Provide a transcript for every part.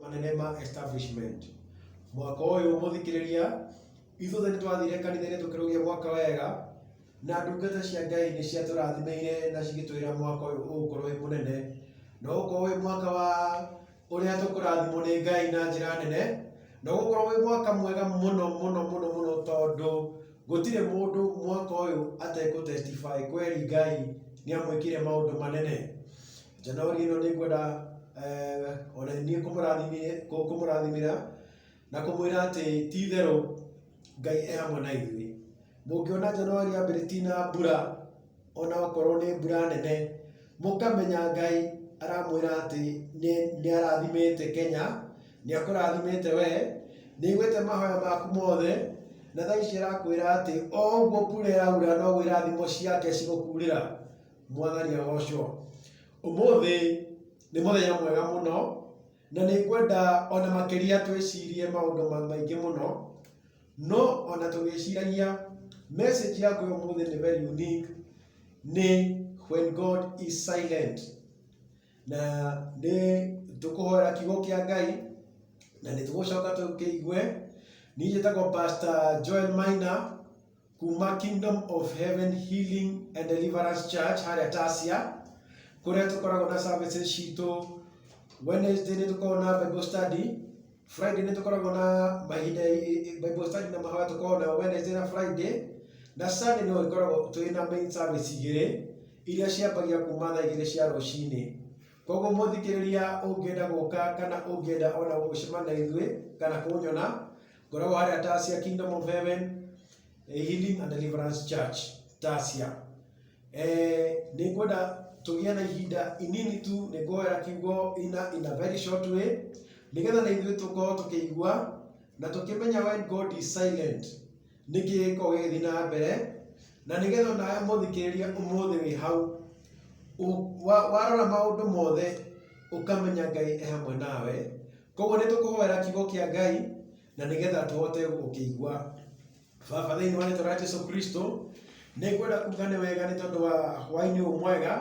manene ma establishment mwaka ũyũ mũthikĩrĩria ithuothe nĩ twathire kanitha-inĩ tũkĩrũgia mwaka wega na ndungata cia ngai nĩ ciatũrathimeire na cigĩtwĩra mwaka ũyũ ũgũkorwo wĩ mũnene na ũgũkorwo wĩ mwaka wa ũrĩa tũkũrathimwo nĩ ngai na njĩra nene na ũgũkorwo wĩ mwaka mwega mũno mũno mũno mũno tondũ gũtirĩ mũndũ mwaka ũyũ atekũtestify kweri ngai nĩ amwĩkire maũndũ manene Januari ĩno nĩ ngwenda eh, ona niĩ kũmũrathimire- kũ- kũmũrathimĩra na kũmwĩra atĩ ti itherũ ngai e hamwe na ithuĩ mũngĩona januari yambĩrĩ ti na mbura ona okorwo nĩ mbura nene mũkamenya ngai aramwĩra atĩ nĩ- nĩ arathimĩte kenya nĩ akũrathimĩte we nĩ igwĩte mahoya maku mothe na thaa ici arakwĩra atĩ o ũguo kura ĩraura noguo irathimo ciake cigũkurĩra mwathani agocwo ũmũthĩ nĩ mũthenya mwega mũno na nĩ ngwenda ona makĩria twĩcirie maũndũ ma- maingĩ mũno no ona tũgĩciragia message yaku ya ũmũthĩ nĩ very unique nĩ when god is silent na nĩ tũkũhoera kiugo kĩa ngai na nĩ tũgũcoka tũkĩigue niĩ njĩtagwo pastor joel maina kuma kingdom of heaven healing and deliverance church harĩa tasia kũrĩa tũkoragwo na services citũ wednesday nĩ tũkoragwo na bible study friday nĩ tũkoragwo na mahinda bible study na mahoya tũkoragwo na wednesday na friday na sunday no ĩkoragwo twĩ na main service igĩrĩ iria ciambagia kuma thaa igĩrĩ cia rũcinĩ koguo mũthikĩrĩria ũngĩenda gũka kana ũngĩenda ona gũcemana na ithuĩ kana kũnyona ngoragwo harĩa tasia kingdom of heaven eh, healing and deliverance church tasia eh, nĩ ngwenda tũgĩe na ihinda inini tu nĩ ngũhoera kiugo ina in a very short way nĩgetha na ithuĩ tũkorwo tũkĩigua na tũkĩmenya when god is silent nĩkĩ gĩkorwo gĩgĩthiĩ na mbere na nĩgetha onawe mũthikĩrĩria ũmũthĩ wĩ hau Ũ- wa- warora maũndũ mothe ũkamenya ngai e hamwe nawe Koguo nĩ tũkũhoera kiugo kĩa Ngai na nĩgetha tũhote gũkĩigua. Baba, thĩinĩ wa rĩtwa rĩa Jesu Kristo, nĩ ngwenda kuga nĩ wega nĩ tondũ wa hwaĩ-inĩ ũyũ mwega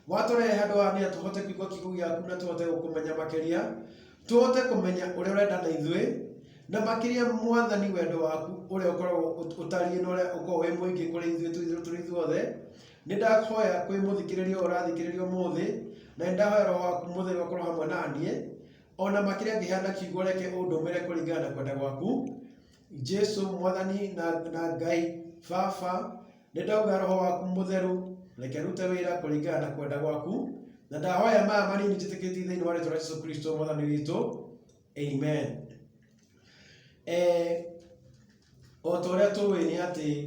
watũrehe handũ haha nĩgetha tũhote kũigua kiugo gĩaku na tũhote gũkũmenya makĩria, tũhote kũmenya ũrĩa ũrenda na ithuĩ, na makĩria mwathani wendo waku ũrĩa ũkoragwo ũtariĩ na ũrĩa ũkoragwo wĩ mũingĩ kũrĩ ithuĩ tũrĩ ithuothe Nĩ ndahoya kwĩ mũthikĩrĩria ũyũ ũrathikĩrĩria ũmũthĩ, na nĩ ndahoya roho waku mũtheru akorwo hamwe na niĩ, o na makĩria ngĩheana kiugo reke ũndũmĩre kũringana na kwenda gwaku. Jesu mwathani na, na Ngai Baba, nĩ ndauga roho waku mũtheru reke rute wĩra kũringana na kwenda gwaku, na ndahoya maya manini njĩtĩkĩtie thĩinĩ wa rĩtwa rĩa Jesu Kristo mwathani witũ. Amen. Eh, o ta ũrĩa tũĩ nĩ atĩ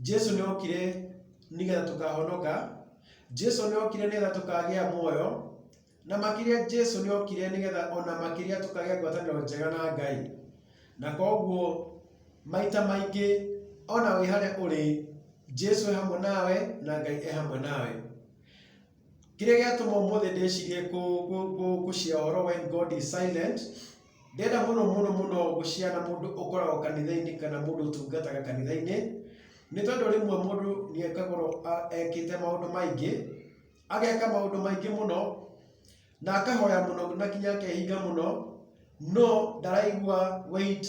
Jesu nĩ okire nĩgetha tũkahonoka, Jesu nĩ okire nĩgetha tũkagĩa muoyo, na makĩria Jesu nĩ okire nĩgetha ona makĩria tũkagĩa ngwatanĩro njega na Ngai. Na koguo maita maingĩ ona wĩ harĩa ũrĩ, Jesu e hamwe nawe na Ngai e hamwe nawe. Kĩrĩa gĩatũma ũmũthĩ ndĩcirie kũ- kũ- kũ- gũcia ũhoro when God is silent Ndĩrenda mũno mũno mũno gũciana mũndũ ũkoragwo kanitha-inĩ kana mũndũ ũtungataga kanitha-inĩ, nĩ tondũ rĩmwe mũndũ nĩ ekagwo ekĩte maũndũ maingĩ, ageka maũndũ maingĩ mũno, na akahoya mũno na nginya akehinga mũno, no ndaraigua wait,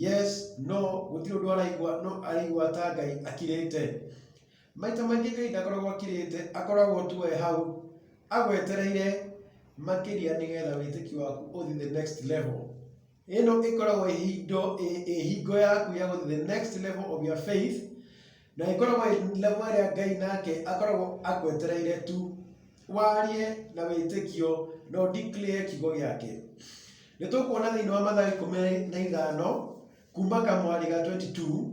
yes, no, gũtirĩ ũndũ araigua, no araigua ta Ngai akirĩte. Maita maingĩ Ngai ndakoragwo akirĩte, akoragwo tu e hau agwetereire makĩria nĩgetha wĩtĩkio waku ũthiĩ the next level. Ĩno ĩkoragwo ĩhindo ĩhingo yaku ya gũthiĩ the next level of your faith na ĩkoragwo level ĩrĩa Ngai nake akoragwo agwetereire tu warie na wĩtĩkio na ũdeclare kiugo gĩake. Nĩ tũkuona thĩinĩ wa Mathayo ikũmi na ithano kuma kamwarĩ ga 22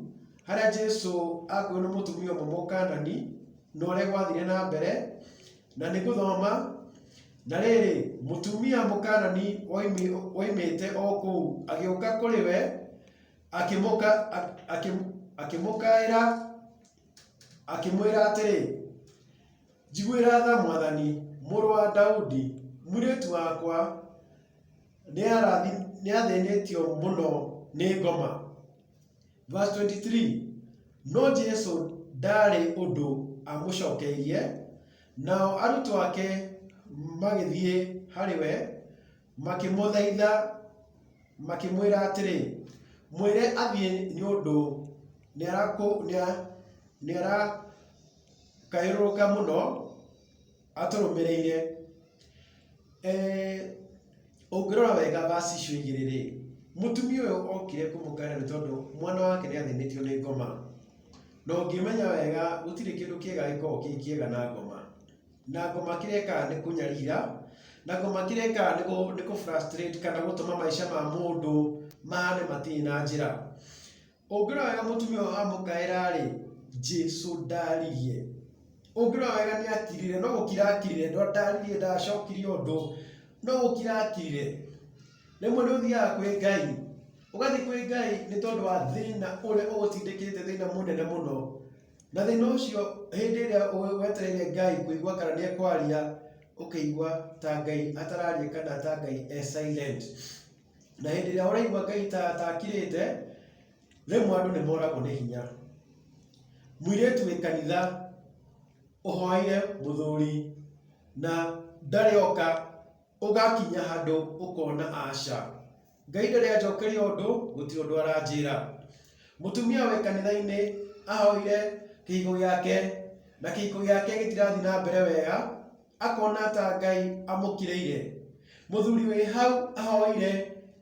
harĩa Jesu akuo nĩ mũtumia ũmwe mũkanani na ũrĩa gwathire na mbere na nĩ gũthoma na rĩrĩ mũtumia mũkanani oimi- oimĩte o kũu agĩũka kũrĩ we akĩmũka ak- akĩ- akĩmũkaĩra akĩmwĩra atĩrĩ njiguĩra tha mwathani mũrũ wa daudi mwirĩtu wakwa nĩathĩnĩtio mũno nĩ ngoma. Verse 23, no Jesu ndaarĩ ũndũ amũcokeirie, nao arutwo ake magĩthiĩ harĩ we, makĩmũthaitha, makĩmwĩra atĩrĩ, mwĩre athiĩ nĩ ũndũ nĩarakũ- nĩa- nĩarakayũrũrũka mũno. atũrũmĩrĩire eh, ũngĩrora wega vasi icio igĩrĩ rĩ mũtumia ũyũ okire kũmũkana nĩ tondũ mwana wake nĩ athĩnĩtio nĩ ngoma na ũngĩmenya wega gũtirĩ kĩndũ kĩega gĩkoragwo kĩ kĩega na ngoma na ngoma kĩrĩa ĩkaga nĩ kũnyarira na ngoma kĩrĩa ĩkaga nĩ kũ- nĩ kũ frustrate kana gũtũma maica ma mũndũ mahane matirĩ na njĩra Ũngĩrora wega mũtumia ũyũ amũkaĩra-rĩ, Jesũ ndaririe. Ũngĩrora wega nĩ akirire, no gũkira akirire, ndaririe ndacokirie ũndũ, no gũkira akirire. Rĩmwe nĩ ũthiaga kwĩ Ngai, ũgathiĩ kwĩ Ngai nĩ tondũ wa thĩna ũrĩa ũgũtindĩkĩte thĩna mũnene mũno. Na thĩna ũcio hĩndĩ ĩrĩa wetereire Ngai kũigua kana nĩ ekwaria, ũkĩigua ta Ngai atararia kana ta Ngai e silent. Na hĩndĩ ĩrĩa ũraigua Ngai ta ta akirĩte, rĩmwe andũ nĩ moragwo nĩ hinya. Mũirĩtu wĩ kanitha ũhoeire mũthuri na ndarĩ oka, ũgakinya handũ ũkona aca, Ngai ndarĩ anjokeria ũndũ, gũtirĩ ũndũ aranjĩra. Mũtumia wĩ kanitha-inĩ ahoire kĩhiko gĩake na kĩhiko gĩake gĩtirathiĩ na mbere wega, akona ta Ngai amũkĩrĩire. Mũthuri wĩ hau ahoire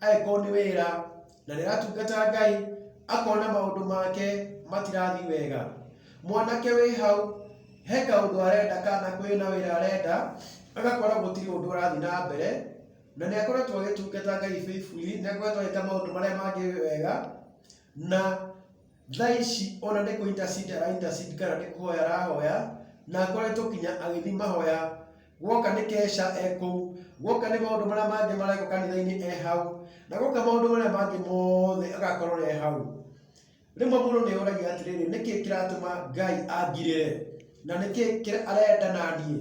angĩkorwo nĩ wĩra na nĩ aratungata Ngai, akona maũndũ make matirathiĩ wega. Mwanake wĩ hau he kaũndũ arenda kana kwĩ na wĩra arenda, agakora gũtirĩ ũndũ ũrathiĩ na mbere, na nĩ akoretwo agĩtungata Ngai faithfully, nĩ akoretwo agĩka maũndũ marĩa mangĩ wega, na Thaa ici ona nĩ kũ intercede ara intercede kana nĩ kũhoya arahoya, na akoretwo nginya agĩthiĩ mahoya. Guoka nĩ keca e kũu, guoka nĩ maũndũ marĩa mangĩ marekwo kanitha-inĩ e hau, na guoka maũndũ marĩa mangĩ mothe agakorwo e hau. Rĩmwe mũndũ nĩ eyũragia atĩrĩrĩ, nĩ kĩĩ kĩratũma Ngai angirĩre? Na nĩ kĩĩ kĩ- arenda na niĩ?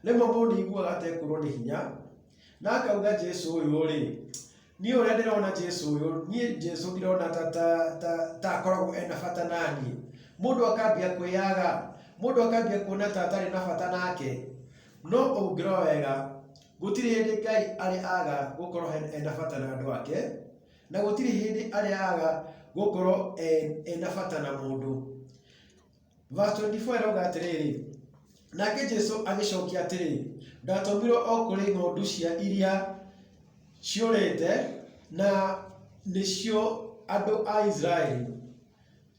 Rĩmwe mũndũ nĩ aiguaga atekwĩrwo nĩ hinya, na akauga Jesu ũyũ-rĩ, niĩ ũrĩa ndĩrona jesu ũyũ niĩ jesu ndirona ta ta ta ta akoragwo ena bata naniĩ mũndũ akambia kwĩyaga mũndũ akambia kuona ta atarĩ na bata nake no ũngĩrora wega gũtirĩ hĩndĩ ngai arĩ aga gũkorwo he- ena bata na andũ ake na gũtirĩ hĩndĩ arĩ aga gũkorwo e- ena bata na mũndũ Verse 24 ĩrauga atĩrĩrĩ nake jesu agĩcokia atĩrĩ ndatũmirwo o kũrĩ ng'ondu cia iria ciũrĩte na nĩcio andũ a isiraeli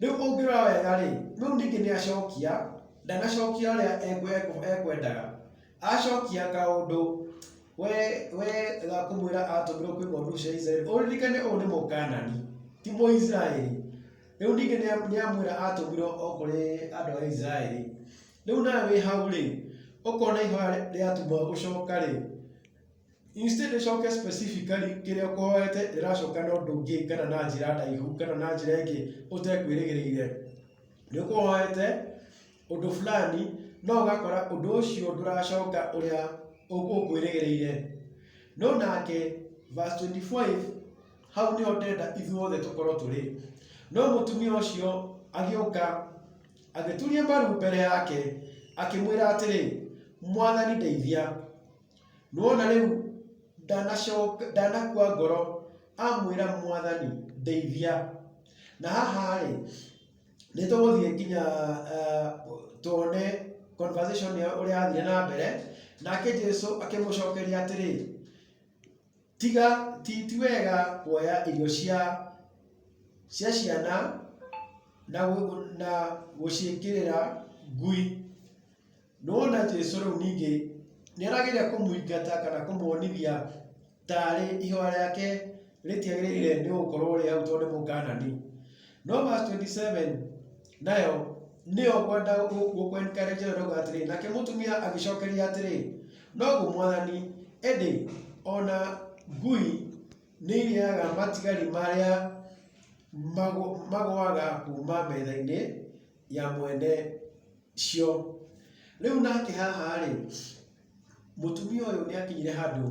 rĩu ũngĩrora wega rĩ rĩu ningĩ nĩ acokia ndanacokia ũrĩa ekwe- ekwe- ekwendaga acokia kaũndũ we we ga kũmwĩra atũmirwo kwĩ ng'ondu cia isiraeli ũririkane ũũ nĩ mũkanani ti mũisiraeli Rĩu ningĩ nĩa- nĩamwĩra atũmirwo o kũrĩ andũ a Isiraeli. Rĩu nawe wĩ hau-rĩ, ũkona ihoya rĩ- rĩatumwo gũcoka-rĩ, instead ĩcoke specifically kĩrĩa ũkũhoete rĩracoka na ũndũ ũngĩ kana na njĩra ndaihu kana na njĩra ĩngĩ ũtekwĩrĩgĩrĩire. Nĩũkũhoete ũndũ fulani no ũgakora ũndũ ũcio ndũracoka ũrĩa ũ- ũkwĩrĩgĩrĩire. No nake verse 25 hau nĩho ndenda ithuothe tũkorwo tũrĩ no mũtumia ũcio agĩũka agĩturia maru mbere yake akĩmwĩra atĩrĩ mwathani ndeithia nĩwona rĩu ndanacoka ndanakua ngoro amwĩra mwathani ndeithia na haha-rĩ nĩ tũgũthiĩ nginya eh, tuone conversation ĩyo ũrĩa yathire na mbere nake jesu akĩmũcokeria atĩrĩ Tiga ti ti wega kuoya irio cia cia ciana na na gũciĩkĩrĩra ngui. Nĩwona Jesũ rĩu ningĩ nĩarageria kũmũingata kana kũmuonithia tarĩ iheo rĩake rĩtiagĩrĩire nĩgũkorwo rĩ hau tondũ nĩ Mũkanani. No verse twenty seven. Nayo nĩyo ngwenda gũ- gũkwenĩkĩra njĩra ndogo atĩrĩ nake mũtumia agĩcokeria atĩrĩ noguo mwathani ĩndĩ ona ngui nĩ irĩaga matigari marĩa magũ- magũaga kuma metha-inĩ ya mwene cio rĩu nake haha rĩ mũtumia ũyũ nĩ akinyire handũ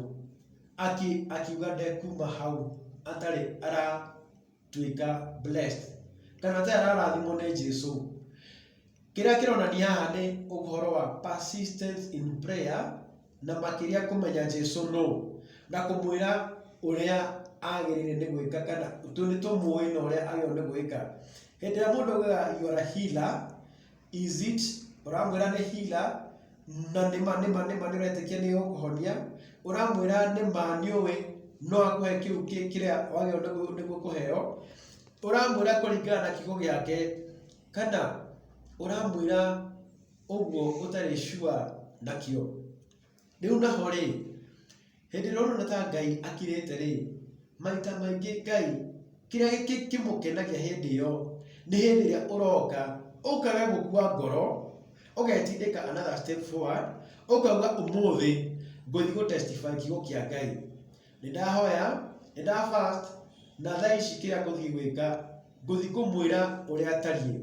aki- akiuga ndekuma hau atarĩ ara- tuĩka blessed kana ta ararathimwo nĩ Jesu kĩrĩa kĩronania haha nĩ ũhoro wa persistence in prayer na makĩria kũmenya Jesu no na kũmwĩra ũrĩa agĩrĩire nĩ gwĩka kana tũ- nĩ tũmũĩ na ũrĩa agĩrĩirwo nĩ gwĩka hĩndĩ ĩrĩa mũndũ augaga you are a healer Is it ũramwĩra nĩ hila na nĩma nĩma nĩma nĩ ũretĩkia nĩ ũkũhonia ũramwĩra nĩma nĩ ũĩ no akũhe kĩu kĩ- kĩrĩa wagĩrĩirwo nĩguo- nĩguo kũheo ũramwĩra kũringana na kiugo gĩake kana ũramwĩra ũguo ũtarĩ sure nakĩo Rĩu naho rĩ, hĩndĩ ĩrĩa ũrona ta Ngai akirĩte rĩ, maita maingĩ Ngai kĩrĩa kĩmũkenagia hĩndĩ ĩyo nĩ hĩndĩ ĩrĩa ũroka, ũkaga gũkua ngoro, ũgetindĩka another step forward, ũkauga ũmũthĩ ngũthiĩ gũ testify kiugo kĩa Ngai. Nĩ ndahoya, nĩ nda fast, na thaa ici kĩrĩa ngũthiĩ gwĩka, ngũthiĩ kũmwĩra ũrĩa atariĩ.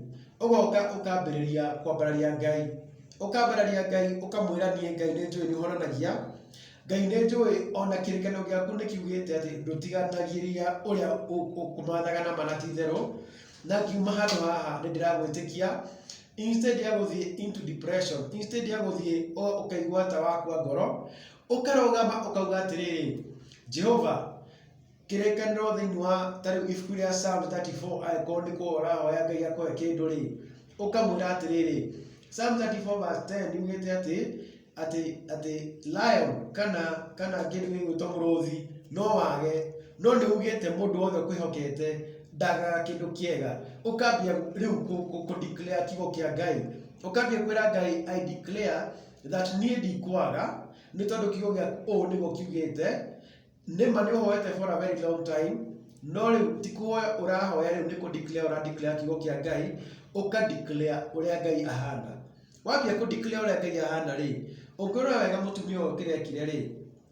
Ũgoka ũkambĩrĩria kwambararia Ngai. Ũkambararia Ngai ũkamwĩra niĩ Ngai nĩ njũĩ nĩ ũhonanagia, Ngai nĩ njũĩ o na kĩrĩkanĩro gĩaku nĩ kiugĩte atĩ ndũtiganagĩria ũrĩa ũ- ũkũmathaga na ma na ti itherũ, na ngiuma handũ haha nĩ ndĩragwĩtĩkia, instead ya gũthiĩ into depression, instead ya gũthiĩ o ũkaigua ta wakua ngoro, Ũkarũgama ũkauga atĩrĩrĩ, Jehova, kĩrĩkanĩro thĩinĩ wa tarĩu ibuku rĩa Psalm 34 angĩkorwo nĩ kũhoya ũrahoya Ngai akũhe kĩndũ rĩ, ũkamwĩra atĩrĩrĩ, Psalm 34 verse 10 yugĩte atĩ atĩ atĩ lion kana kana kĩndũ gĩgwĩtwo mũrũthi no wage no nĩ ugĩte mũndũ wothe ũkwĩhokete ndagaga kĩndũ kĩega ũkambia rĩu kũ- kũ- kũ declare kiugo kĩa ngai ũkambia kwĩra ngai i declare that niĩ ndikwaga nĩ tondũ kiugo gĩa ũũ nĩguo kiugĩte nĩma nĩ ũhoete for a very long time no rĩu ti kũhoya ũrahoya rĩu nĩ kũdeclare ũradeclare kiugo kĩa ngai ũkadeclare ũrĩa ngai ahana wambia kũdeclare ũrĩa ngai ahana rĩ ũngĩrora wega mũtumia ũyũ kĩrekire rĩ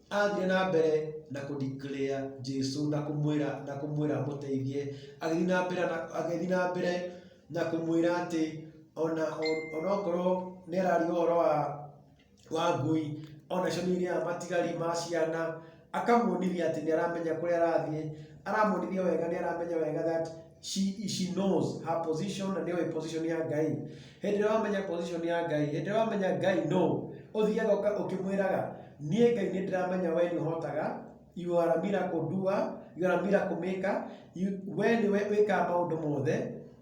athiĩ na mbere na kũ declare Jesu na kũmwĩra na kũmwĩra amũteithie agĩthiĩ na mbere na agĩthiĩ na mbere na kũmwĩra atĩ ona onokorwo nĩ ararĩ ũhoro wa wa ngui ona cio nĩ irĩaga matigari ma ciana akamuonithia atĩ nĩ aramenya kũrĩa arathiĩ aramuonithia wega nĩ aramenya wega that she, she knows her position na nĩoĩ position ya ngai hĩndĩ ĩrĩa wamenya position ya ngai hĩndĩ ĩrĩa wamenya ngai no ũthiaga ũka- ũkĩmwĩraga niĩ ngai nĩ ndĩramenya we nĩ ũhotaga you are a miracle doer you are a miracle maker you, we nĩ we wĩkaga maũndũ mothe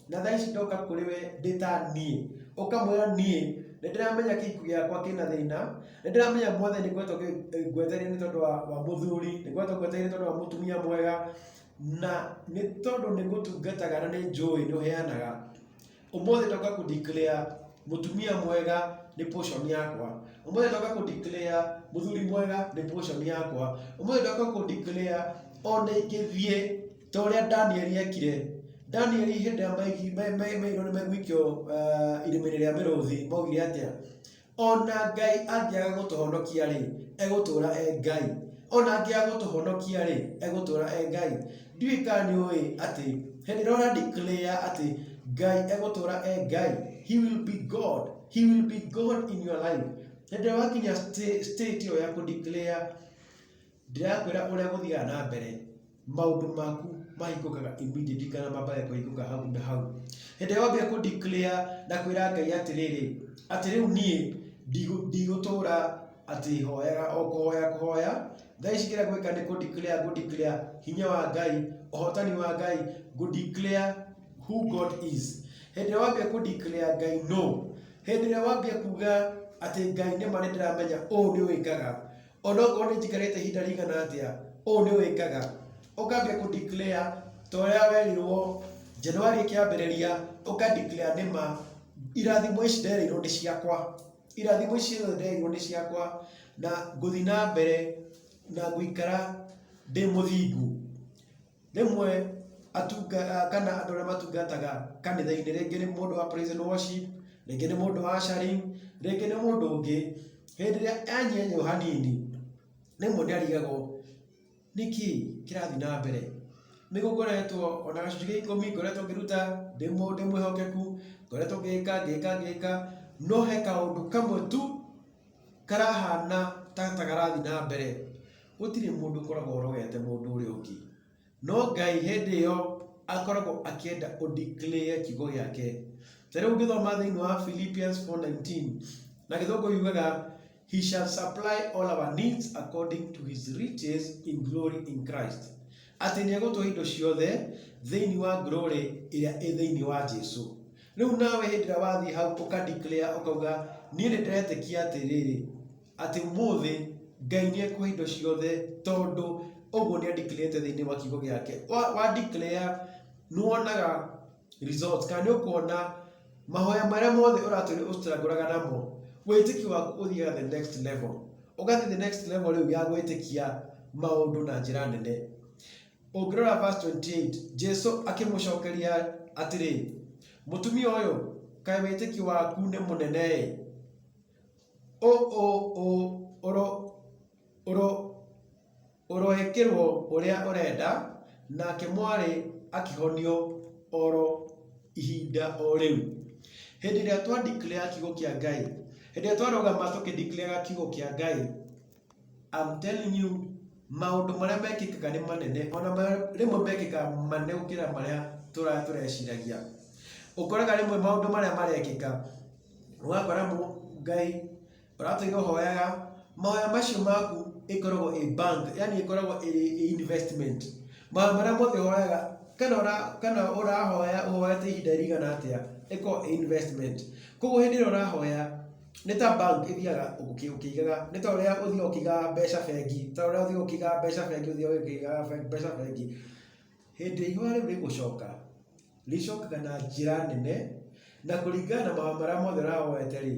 na thaa ici ndoka kũrĩ we ndĩ ta niĩ ũkamwĩra niĩ nĩ ndĩramenya kĩku gĩakwa kĩna thĩna nĩ ndĩramenya mothe nĩ ngoretwo ngĩ- ngwetereire nĩ tondũ wa wa mũthuri nĩ ngoretwo ngwetereire nĩ tondũ wa mũtumia mwega Na nĩ tondũ nĩ ngũtungataga na nĩ njũĩ nĩ ũheanaga, ũmũthĩ ndoka kũ declare mũtumia mwega nĩ portion yakwa. Ũmũthĩ ndoka kũ declare mũthuri mwega nĩ portion yakwa. Ũmũthĩ ndoka kũ declare ona ingĩthiĩ ta ũrĩa Danieli ekire. Danieli hĩndĩ ĩrĩa maigirwo nĩ megũikio irima-inĩ rĩa mĩrũthi maugire atĩa? Ona Ngai angĩaga gũtũhonokia-rĩ, egũtũũra e Ngai. Ona angĩaga gũtũhonokia-rĩ, egũtũũra e Ngai. Ndiũĩ kana nĩ ũĩ atĩ hĩndĩ ĩrĩa ũra declare atĩ Ngai egũtũũra e Ngai, he will be God, he will be God in your life. Hĩndĩ ĩrĩa wakinya sta- state ĩyo ya kũ declare Ndĩrakwĩra ũrĩa gũthiaga na mbere, maũndũ maku mahingũkaga immediately kana mambaga kũhingũka hau na hau. Hĩndĩ ĩrĩa wambia kũ declare na kwĩra Ngai atĩrĩrĩ, atĩ rĩu niĩ ndigũtũra atĩ hoyaga o kũhoya kũhoya, thaa ici kĩrĩa ngwĩka nĩ kũ declare ngũ declare hinya wa Ngai, ũhotani wa Ngai, ngũ declare who God is. Hĩndĩ ĩrĩa wambia kũ declare Ngai nũ, hĩndĩ ĩrĩa wambia kuga atĩ Ngai nĩma nĩndĩramenya ũũ nĩwĩkaga, O na okorwo nĩ njikarĩte ihinda rĩigana atĩa, ũũ nĩ wĩkaga, ũkambia kũ declare ta ũrĩa werirwo January ĩkĩambĩrĩria, ũka declare nĩ ma, irathimo ici nderĩirwo nĩ ciakwa. Irathimo ici ciothe nderĩirwo nĩ ciakwa, na ngũthiĩ na mbere na gũikara ndĩ mũthingu. Rĩmwe atunga, kana andũ arĩa matungataga kanitha-inĩ, rĩngĩ nĩ mũndũ wa praise and worship, rĩngĩ nĩ mũndũ wa ushering, rĩngĩ nĩ mũndũ ũngĩ, hĩndĩ ĩrĩa anyenywo hanini, rĩmwe nĩ arigagwo nĩkĩ kĩrathiĩ na mbere. Nĩ gũkoretwo ona gacunjĩ gĩa ikũmi ngoretwo ngĩruta ndĩ mũ- ndĩ mwĩhokeku, ngoretwo ngĩka ngĩka ngĩka, no he kaũndũ kamwe tu karahana ta ta karathiĩ na mbere, gũtirĩ mũndũ ũkoragwo ũrogete mũndũ ũrĩa ũngĩ. No Ngai hĩndĩ ĩyo akoragwo akĩenda ũ declare kiugo gĩake. Ta rĩu ũngĩthoma thĩinĩ wa Philippians 4:19, na Gĩthũngũ yugaga, He shall supply all our needs according to his riches in glory in Christ. Atĩ nĩ egũtũhe indo ciothe thĩinĩ wa glory ĩrĩa ĩ thĩinĩ wa Jesu. Rĩu nawe hĩndĩ ĩrĩa wathiĩ hau ũka declare ũkauga niĩ nĩ ndĩretĩkia atĩrĩrĩ atĩ ũmũthĩ Ngai nĩ ekuhe indo ciothe tondũ ũguo nĩ adeclarete thĩinĩ wa kiugo gĩake. Wa, wa declare nĩ wonaga results kana nĩ ũkuona mahoya marĩa mothe ũratũire ũcitangũraga namo wĩtĩkio waku ũthiaga the next level ũgathiĩ the next level rĩu ya gwĩtĩkia maũndũ na njĩra nene Ũngĩrora verse 28, Jesu akĩmũcokeria atĩrĩ, mũtumia ũyũ, kaĩ wĩtĩkio waku nĩ mũnene-ĩ! Ũ ũ ũ ũro ũro ũroĩkĩrwo ũrĩa ũrenda, nake mwarĩ akĩhonio oro ihinda o rĩu. Hĩndĩ ĩrĩa twa declare kiugo kĩa Ngai, hĩndĩ ĩrĩa twarũgama tũkĩ declare kiugo kĩa Ngai, I'm telling you, maũndũ marĩa mekĩkaga nĩ manene, ona marĩa- rĩmwe mekĩkaga manene gũkĩra marĩa tũra- tũreciragia. Ũkoraga rĩmwe maũndũ marĩa marekĩka, ũgakora mũ- Ngai ũratũire ũhoyaga, mahoya macio maku ĩkoragwo ĩ bank, yani ĩkoragwo ĩrĩ ĩ investment. Mahoya marĩa mothe ũhoyaga, kana ũra- kana ũrahoya ũhoyete ihinda rĩigana atĩa, ĩkoragwo ĩ investment. Koguo hĩndĩ ĩrĩa ũrahoya, nĩ ta bank ĩthiaga ũkĩ- ũkĩigaga nĩ ta ũrĩa ũthiaga ũkĩigaga mbeca bengi ta ũrĩa ũthiaga ũkĩigaga mbeca bengi ũthiaga ũkĩigaga be- mbeca bengi hĩndĩ ĩrĩa ihũa rĩu rĩgũcoka rĩcokaga na njĩra nene na kũringana na mahoya marĩa mothe ũrahoete rĩ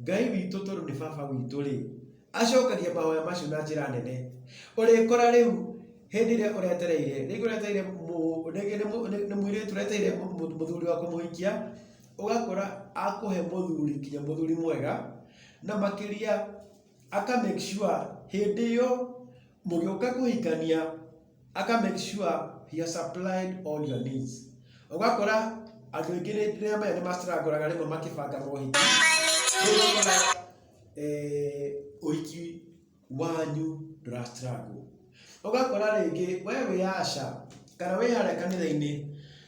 ngai witũ tondũ nĩ baba witũ rĩ acokagia mahoya macio na njĩra nene ũrĩkora rĩu hĩndĩ ĩrĩa ũretereire rĩngĩ ũretereire mũ- rĩngĩ nĩ mũ- nĩ- nĩ mũirĩtu ũretereire mũ- mũ- mũthuri wa kũmũhikia ũgakora akũhe mũthuri nginya mũthuri mwega, na makĩria aka make sure hĩndĩ ĩyo mũgĩũka kũhikania aka make sure he has supplied all your needs. Ũgakora andũ aingĩ nĩ ndĩramenya nĩ ma struggle aga rĩmwe makĩbanga mohiki, rĩu ũgakora eh, ũhiki wanyu ndũra struggle. Ũgakora rĩngĩ we wĩ Asha kana wĩ harĩa kanitha-inĩ